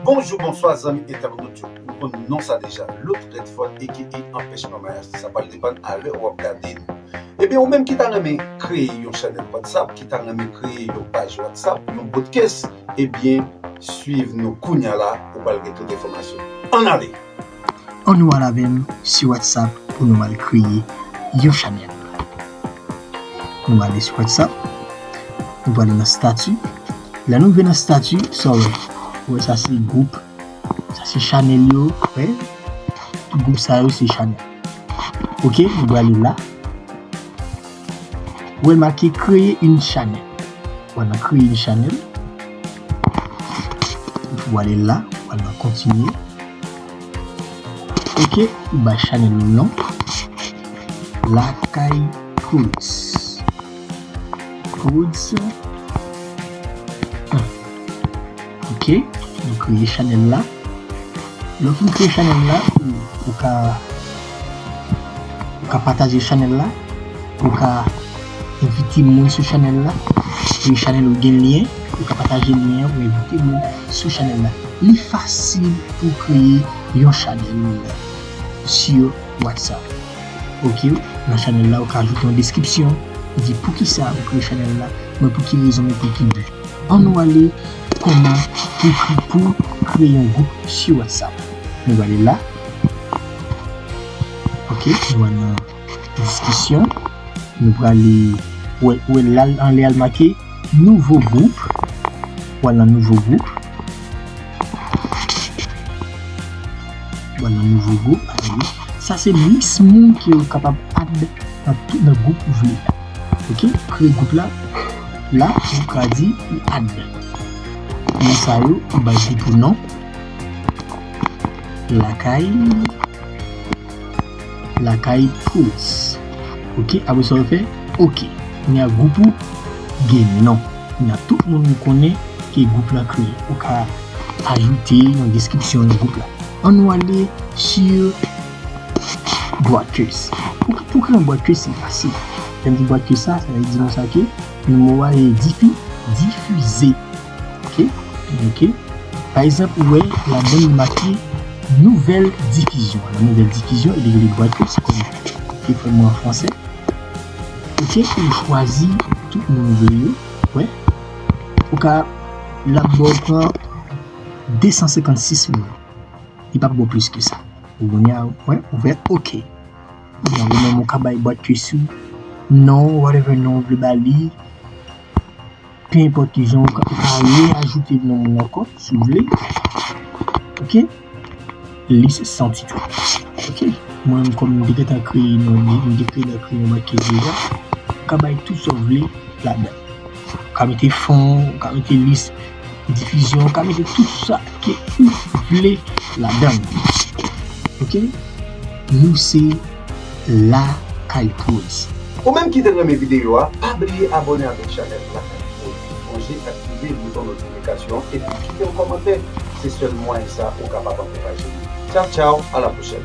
Bonjou bonswa zanmi entèwonot yo nou konn non sa deja Looth Redford aka Anpèch Mama Yasthi sa pral depann a lè wap gade nou ebyen ou menm ki ta renmen kreye yon chanèl whatsapp ki ta renmen kreye yon paj whatsapp yon broadcast ebyen swiv nou kounya la ou pral gen tout enfòmasyon an ale. An nou al avèm su whatsapp pou nou al kreye yon chanèl Nou ale su whatsapp Nou prale nan stati Lè nou rive nan stati sa w wè Ou wè sa se group Sa se chanèl yo wè Tout group sa yo se chanèl Ok nou prale la. Wè make kreye yn chanèl. Wal nan kreye yn chanèl. Epi wale la. Wal nan kontinye. Ok. Ou bay chanèl ou non. Lakay Prodz. Prodz. Ok, nou kreye chanèl la. Lè w fin kreye chanèl la, ou ka ou ka pataje chanèl la, ou ka envite moun sou chanèl la. Si chanèl ou gen lyen, ou ka pataje lyen an pou envite moun sou chanèl la. Li fasil pou kreye yon chanèl sou WhatsApp. Ok, nan chanèl la ou ka ajoute yon deskripsyon, di poukisa ou kreye chanèl la, mwen pou ki rezon, mwen pou ki bi. An nou ale kòman pou ekri pou kreye yon gwoup su whatsapp nou ale la ok nou al nan diskisyon nou prale ou wè la anlè al make nouvo gwoup ou al nan nouvo gwoup ou al nan nouvo gwoup sa se lis moun ki ou kapab add nan gwoup ou vle. Ok kle gout la la nou ka di li add moun sa yo m bay li pou non lakay lakay pools ok apre sa ou fè ok kounya group ou gen non kounya tout moun ou konnen ke group la kreye ou ka ajoute nan description group la an nou ale sur Bwat Kès Pou kran bwat kès se fasil. Lè m di bwat kès sa, sa vle di konsa ke nan mo a e difi, difize. Ok? Ok? Pa egzanp, ou wè ladan li make nouvèl difizyon. Nan nouvèl difizyon, li rele bwat kès kòm e fòm an franse. Ok? Ou chwazi tout moun ou vle yo. Ou wè? Ou ka l ap ba w pran 256 moun. Li p ap ba w plis ke sa. Pou kounye a wè ouvè ok. Kounye a ou menm ou ka bay bòt yo sou non whatever non ou vle ba li. Pe enpòt ki jan ou ka re ajoute non moun ankò si ou vle. Ok. Lis san titò. Ok. Mwen menm kòm m te gentan kreye non li, m te kreye nan kreyòm ak kezi a. Ou ka bay tout sa ou vle ladan. Ou ka mete fon, ou ka mete lis difizyon, ou ka mete tout sa ke ou vle la dan. Ok? Nou se Lakay Prodz. Ou menm ki te renmen videyo a, pa bliye abone avèk chanèl Lakay Prodz. Sonje aktive bouton notifikasyon an epi kite yon kòmantè. Se sèl mwayen sa ou kapab ankouraje nou. Tchaw tchaw, a la pwochèn!